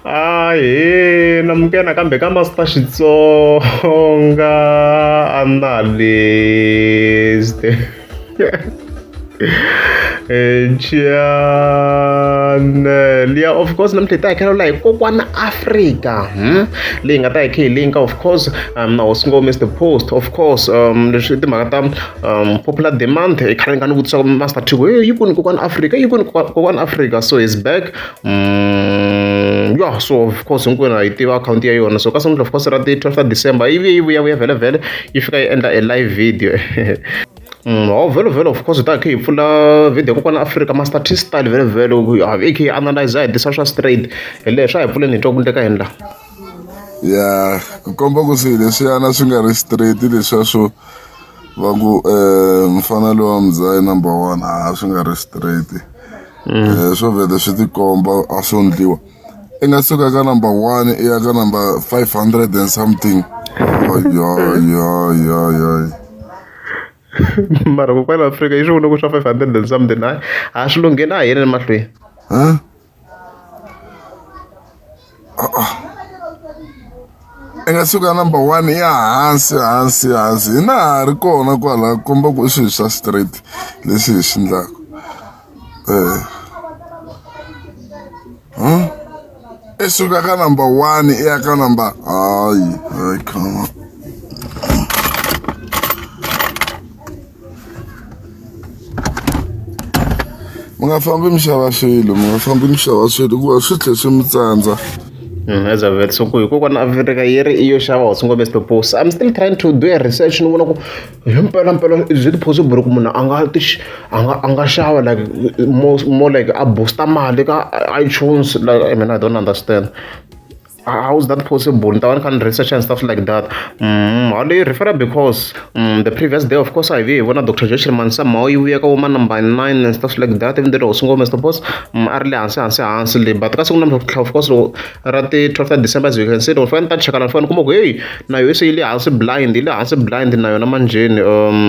Ahee na muke nakambe ka Master Xitsonga analyst chanel ya of course namuntlha hi ta hakela laha hi kokwana afrika hmm? leyi nga ta hi khe hi linka of course um, na hosi ngo mr post of course um, leswi timhaka ta um, popular demand i khale nga ni vutisaka master tigo yi kuni kokwana afrika yi kuni kokwana afrika so is back ya so of course hinkwenu ha yi tiva akhawunti ya yona so ka sungula of course ra ti-twelve ta december yi vuye yi vuya vuya vhelavhele yi fika yi endla a live video Mm, hawu vhelo vhelo of course hi ta khe hi pfula video kokwana afrika master t style vhelo vhelo hi khe hi analyze hi disa swa straight hi lehe swa hi pfuleni hi twa ku ndleka hi ndla ya ku komba ku swi leswiyana swi nga ri straight leswiya swo va ku um mfana lowa mdzayi number one a swi nga ri straight um swo vhele swi tikomba a swo ndliwa i nga suka ka number one i ya ka number five hundred and something yoyoyoyoy mara kokwani afrika yi swi vona ku swa five hundred and something hayi a swi lungheni a hi yeleni mahlweni i nga suka number one ya hansi hansi hansi hi na ha ri kona kwala komba ku i swilo swa straight leswi hi swi ndlaka um eh. i hmm? suka ka number one i ya ka number hayi hayi khama mi nga fambi mi xava swilo mi nga fambi mi xava swilo hikuva swi tlhe swi mi tsandza mm, as a vet so ku hikokwani afrika yi ri iyo xava what's ngombe purpose i'm still trying to do a research ni vona ku himpela mpela is it possible ku munhu a nga ti a nga a nga xava like more, more like a booster mali ka itunes like i mean i don't understand how is that possible ni ta va ni kha ni research and stuff like that mm, how do you refer because mm, the previous day of course i ve hi vona dr joshel mansa mao yi vuya ka woma number nine and stuff like that even though usungo mr boss mm, a ri le hansi hansi hansi le but ka siku na mhla of course ra ti 12 december as you can see loko fane ta chekana ni fane kuma ku heyi na yo se yi le hansi blind yi le hansi blind na yona manjheni um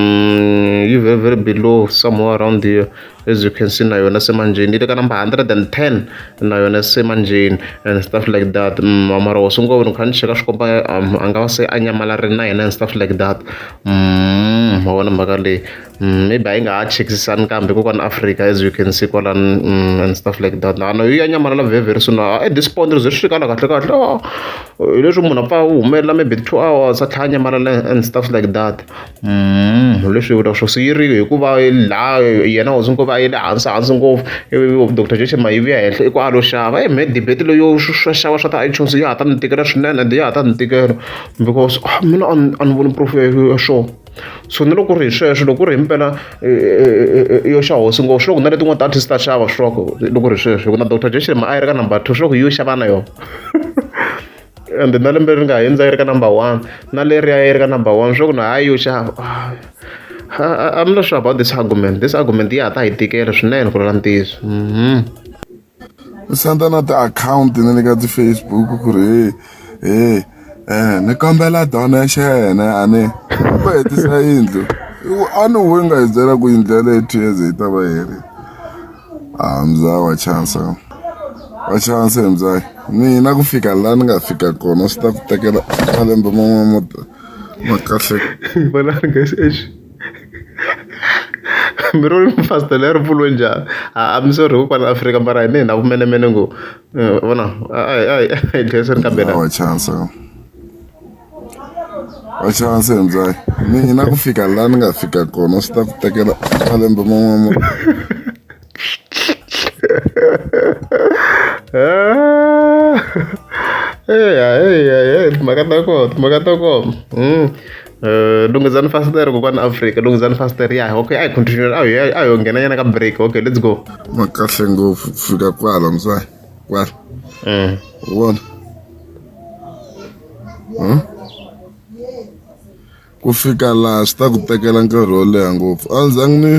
yi very very below somewhere around here as you can see na yona se manjheni yi le ka number 110 na yona se manjheni and stuff like that mm, mara wo sungula ni kha ni cheka swi komba um, a nga va se a nyamalarili na yena and stuff like that mm, ma vona mhaka leyi mm, maybe a yi nga ha chekisisani kambe kokwana africa as you can see kwalani and stuff like that na yi ya nyamalala very very soon ah, at this point ri ze swi fikala kahle kahle ah, hi leswi munhu a pfa a humelela maybe two hours a tlhela a nyamalala and stuff like that leswi hi vulaka swo swi yiriko hikuva laha yena hosi nkova a yi le hansi hansi ngopfu ivi doctor Jeje Mahe yi vuya henhla i ku a lo xava he me debate leyo swo xava swa ti-iTunes ya ha ta ni tikela swinene ende ya ha ta ni tikela because mina a ni a ni voni proof ya ya swona so ni loko ku ri hi sweswo loko ku ri himpela yo xa hosi ngo swi le ku na letin'wana ti-artist ta xava swi tiva ku loko ku ri sweswo hikuva na doctor Jeje Mahe a yi ri ka number two swi le ku yi yo xava na yona. and na lembe ri nga hundza yi ri ka number one na leriya yi ri ka number one swa ku na hayi yo xava I'm not sure about this argument. This argument ya ta hi tikela swinene ku lula ntiyiso. Mhm. Senda na ti-account na le ka ti-Facebook ku ri hey hey eh ni kombela donation a ni va hetisa yindlu a ni huwe nga hi byela ku yindlu ya leyo two years yi ta va heri ah mzaa wa chance wa chance mzaa mina ku fika la ni nga fika kona swi ta ku tekela malembe man'wana mo ma kahle vona guys eish mi ri mfasta leri pfulwe njhani a mi sorry ko kwala afrika mara hine hi na vumenemene ngo vona a hi dlayiseni kambe na chance wa xana se njhani mina ku fika laha ni nga fika kona swi ta ku tekela malembe man'wana eya eya eya timhaka ta kona timhaka ta kona hmm. Eh, lunghizani fasitere kokwana afrika lunghizani fasitere ya okay a hi continue a hi a hi nghena nyana ka break okay let's go makahle ngopfu fika kwala mzwayi kwala eh. vona ku fika laha swi ta ku tekela nkarhi wo leha ngopfu a ndzi zangi ni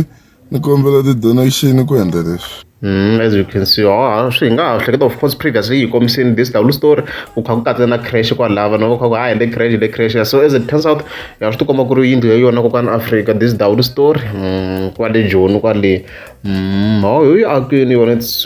ni kombela ti-donation ku endla leswi Mm, as you can see oh, swi hi nga ha hleketa of course previously yi kombisini this double story ku kha ku katsa na crash kwalava na kha ku ha hende crash le crash so as it turns out ya swi tikomba ku ri yindlu ya yona kokwana africa this double story mm, kwale joni kwale mm, oh, yo yi akini yona it's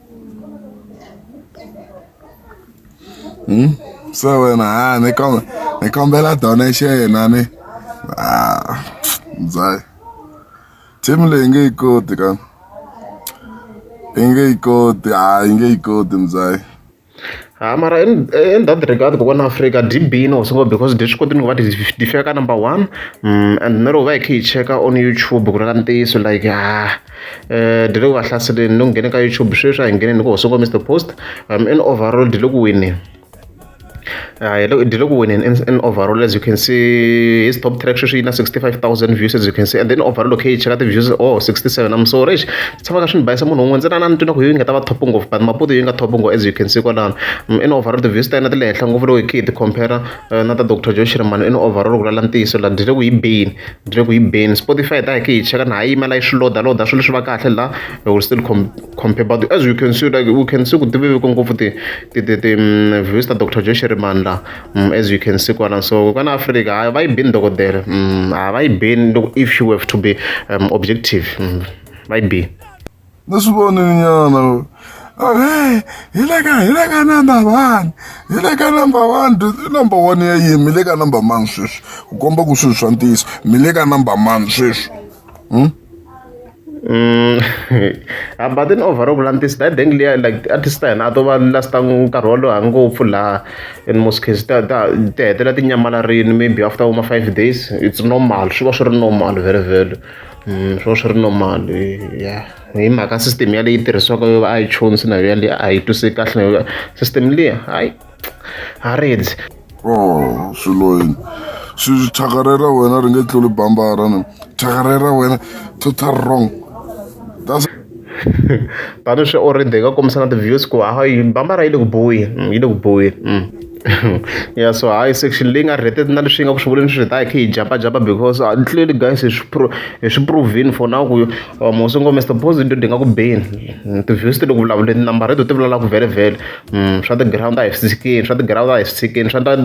Hmm? so wena ha ni kom ni kombela donation yena ni ah mzai team leyi nge yi koti ka yi nge yi koti ha yi nge yi koti mzai ha mara in, in that regard kokwana africa db no singo because leswi koti ni ku va difika ka number one mm, and nero va hi khe hi cheka on youtube ku ri ka ntiyiso like ha eh dele ku va hlaseleni loko nghene ka youtube sweswi a hi ngheneni ku hosoko mr post um in overall dele ku wineni hi le ku wineni in overall as you can see his top track sweswi yi na 65000 views as you can see and then overall okay cheka ti-views oh 67 am sorry xi tshamaka swi ni bayisa munhu un'we ntsena na ni twina ku yi nga ta va top ngopfu but maputo yi nga top ngopfu as you can see kwalano mm, in overall ti-views ta yena ti le henhla ngopfu loko hi khe hi ti-compare eh, na ta dr joe shirmano i ni overall ku lala ntiyiso la byi le ku yi beni byi le ku yi beni spotify ta hi ke hi cheka na ha yimela yi swi loda loda swilo swi va kahle la we will still com compare but as you can see like we can see ku ti veveke ngopfu ti ti ti ti mm, views ta dr joe shirmano la mm, as you can see kwala so kana afrika hayi va yi beni dokodela mm, a va yi beni loko if you have to be um, objective va yi beni ni swi vonile nyana okay hi le ka hi le ka number one hi le ka number one number one ya yini mi le ka number mani sweswi ku komba ku swilo swa ntiyiso mi le ka number mani sweswi hmm? Mm, but then overall vula ntiyiso that deng liya like artist ta hina a to va lasta nkarhi wolowo ha ngopfu laha in most cases ta ta ti hetelela ti nyamalarini maybe after uma five days it's normal swi va swi ri normal very very swo swi ri normal ya hi mhaka system ya leyi tirhisiwaka yo va iTunes na yo yaleyo a yi twisi kahle na yo system leyi hayi ha redzi oh swilo yini swi thyakare ra wena ri nge tluli bambara ni thyakare ra wena total wrong tani swi already hi nga kombisa na ti-views ku ha yi bambara yi le ku boyeni yi le ku boyeni ya so hayi section leyi nga rated na leswi yi nga ku swi vuleni swi ta hi kha hi jabajaba because clearly guys hi swi pro hi swi provini for now ku mosongo mr positive ti nga ku beni ti-views ti le ku vulavuleni number reto ti vulavula ku vhele vhele swa ti-ground a hi swi tshikini swa ti-ground a hi swi tshikini swa ta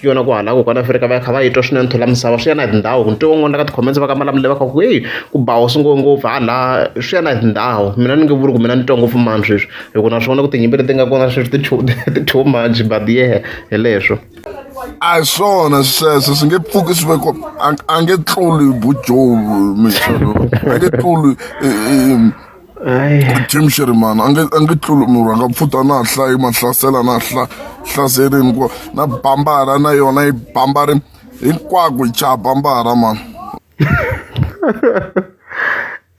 yona ku halaka kona afrika va ya kha va yi twa swinene thula misava swi ya na hi tindhawu ku ntivo n'wana ka ti-comments va ka malamule va kha ku heyi ku ba hosi ngo ngopfu hala swi ya na hi tindhawu mina ni nge vuli ku mina ni twa ngopfu mani sweswi hi ku na swona ku tinyimpi leti nga kona sweswi ti two much but yehe hi leswo a hi swona sweswo swi nge pfuki swi veko a nge tluli bujovu mixo a nge tluli Jim Shirimani a nge a nge tluli munhu a nga pfuta na hla yi mahlasela na hla hlaserini ku na bambara na yona yi bambari hinkwako yi chaha bambara mani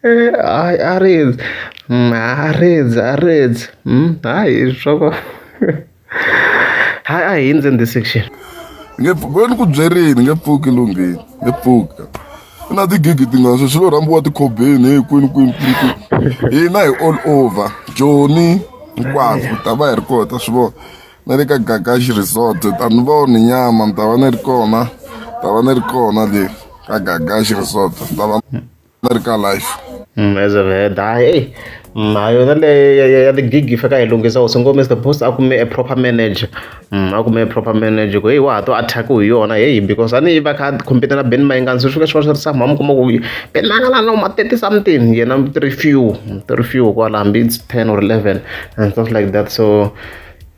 eh, hayi a rezi mm, a rezi a rezi mm, hayi swa ha a hi ndzi ndzi section nge pfuki ni ku byerini nge pfuki lunghini nge pfuka ku na tigigi tingani sweswi lo rhambiwa tikhobeni hi kwini kwini kwini kwini hina hi all over joni hinkwaswo hi ta va hi ri kona ta swi vona na le ka gagaxi resort ta ni voni nyama ni ta va ni ri kona ta va ni ri kona le ka gagaxi resort ni ta va America life. Mm, as I've heard, ah, hey, mm, ah, yona le ya the gig yi fika yi lunghisa u singo Mr Boss a kume a proper manager mm, a kume a proper manager ku hey wa ha to attack hi yona hey because a ni va kha compete na Ben Mayengani swi fika swi va swi ri sa mhama kuma ku Ben Mayengani no ma 30 something yena three few three few kwala hambi it's 10 or 11 and stuff like that so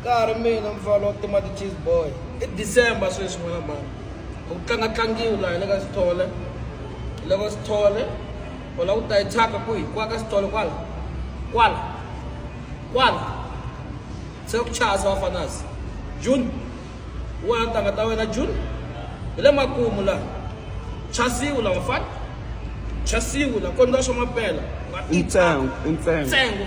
nkarhi mina mfana wa tima ti-cheese boy i december sweswi n'wana mani ku tlanga tlangiwi laha le ka sithole le ka sithole u lava ku ta yi thyaka kwihi kwa ka sithole kwala kwala kwala se ku chaya se vafanasi june wena ntanga ta wena june hi le makumu laha chasiwu la vafana chasiwu la kondza swa mapela nga i ntsengo i ntsengo ntsengo